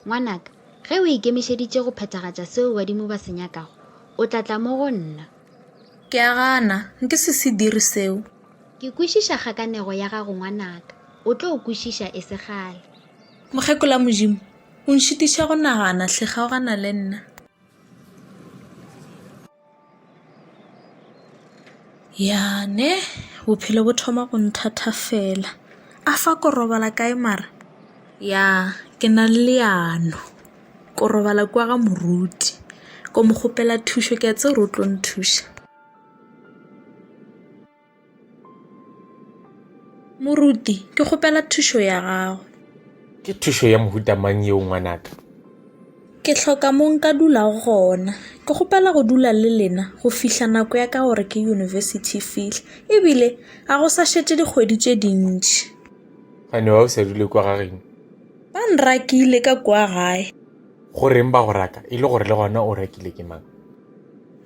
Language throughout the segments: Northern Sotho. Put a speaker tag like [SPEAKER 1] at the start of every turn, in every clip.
[SPEAKER 1] ngwanaka ge o ikemišeditše go phethagatša seo badimo ba se nyakago o tla tla mo go nna ke a
[SPEAKER 2] gana nke se se dire seo ke kwešiša
[SPEAKER 1] kgakanego ya gago ngwanaka o tlo o kwešiša e se gale mokgekola
[SPEAKER 2] modimo o nšitiša go nagana hle kgaogana le nna Ya ne bophelo bo thoma go nthathafela. A fa ko robala kae mara? Ya ke na le leano. Ko robala kwa ga moruti. Ko mo kgopela thušo ke a tseba hore o tlo nthuša. Moruti, ke kgopela thušo ya gago. Ke thušo
[SPEAKER 3] ya mohuta mang yeo ngwanaka? Ke
[SPEAKER 2] hloka mo nka dula gona. Ke kgopela go dula le lena go fihla nako ya ka gore ke yunibesithi e fihle. Ebile ga go sa šetše dikgwedi tše dintši. Gane wa
[SPEAKER 3] o sa dule kwa gageno? Ba
[SPEAKER 2] nrakile ka kwa gae. Go reng ba go
[SPEAKER 3] raka e le gore le gona o rakile ke mang?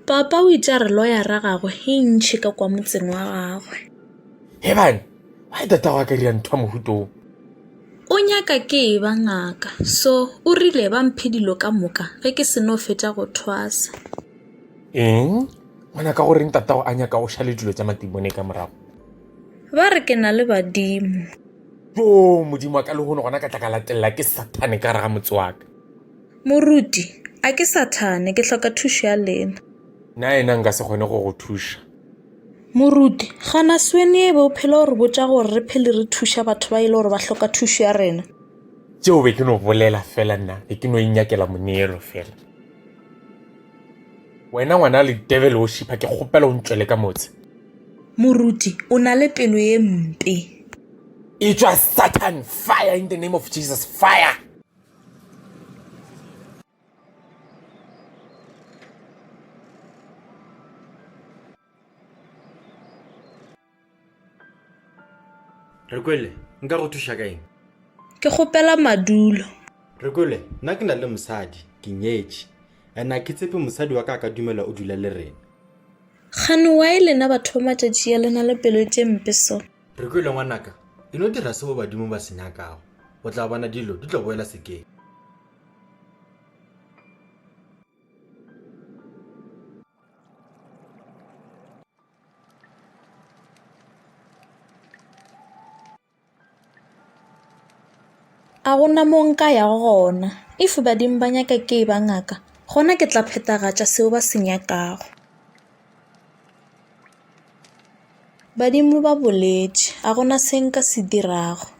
[SPEAKER 3] Papa
[SPEAKER 2] o itše a re loyara gagwe e ntšhi ka kwa motseng wa gagwe. Hebane,
[SPEAKER 3] why tatago a ka dira ntho ya mohuto wo? O
[SPEAKER 2] nyaka ke e ba ngaka, so o rile ba mphe dilo ka moka ge ke seno fetša go thwasa. Eng?
[SPEAKER 3] Ngwana ka goreng tatago a nyaka o šale dilo tša matimone ka morago? Ba re
[SPEAKER 2] ke na le badimo. Yo,
[SPEAKER 3] modimo wa ka lehono gona ka tla ka latelela ke sathane ka gare ga motse wa ka. Moruti,
[SPEAKER 2] A ke Sathane, ke hloka thušo ya lena. Na yena nka
[SPEAKER 3] se kgone go go thuša? Moruti,
[SPEAKER 2] Gana sweni e be o phela o re botša gore re phele re thuša batho ba e le gore ba hloka thušo ya rena. Tšeo be ke
[SPEAKER 3] no bolela fela nna, be ke no inyakela moneelo fela. Wena ngwana ledebele o šipha, ke kgopela o ntšwele ka motse. Moruti,
[SPEAKER 2] O na le pelo ye mpe.
[SPEAKER 3] Etšwa Sathane! Fire in the name of Jesus! Fire!
[SPEAKER 4] re kwele nka go thuša ka eng ke kgopela
[SPEAKER 2] madulo re kwele
[SPEAKER 4] nna ke na le mosadi ke nyetše and a ke tsepe mosadi wa ka ka dumela o dula le rena gane
[SPEAKER 2] wa e lena batho ba matšatši ya lena le pelo tše mpe so Re kwele ngwanaka,
[SPEAKER 4] e no dira seo badimo ba se nyakago. O tla bona dilo di tlo boela sekeng.
[SPEAKER 2] A go na mo nka yago gona. If badimo ba nyaka ke e ba ngaka, gona ke tla phethagatša seo ba se nyakago. Badimo ba boletše, A go na se nka se dirago.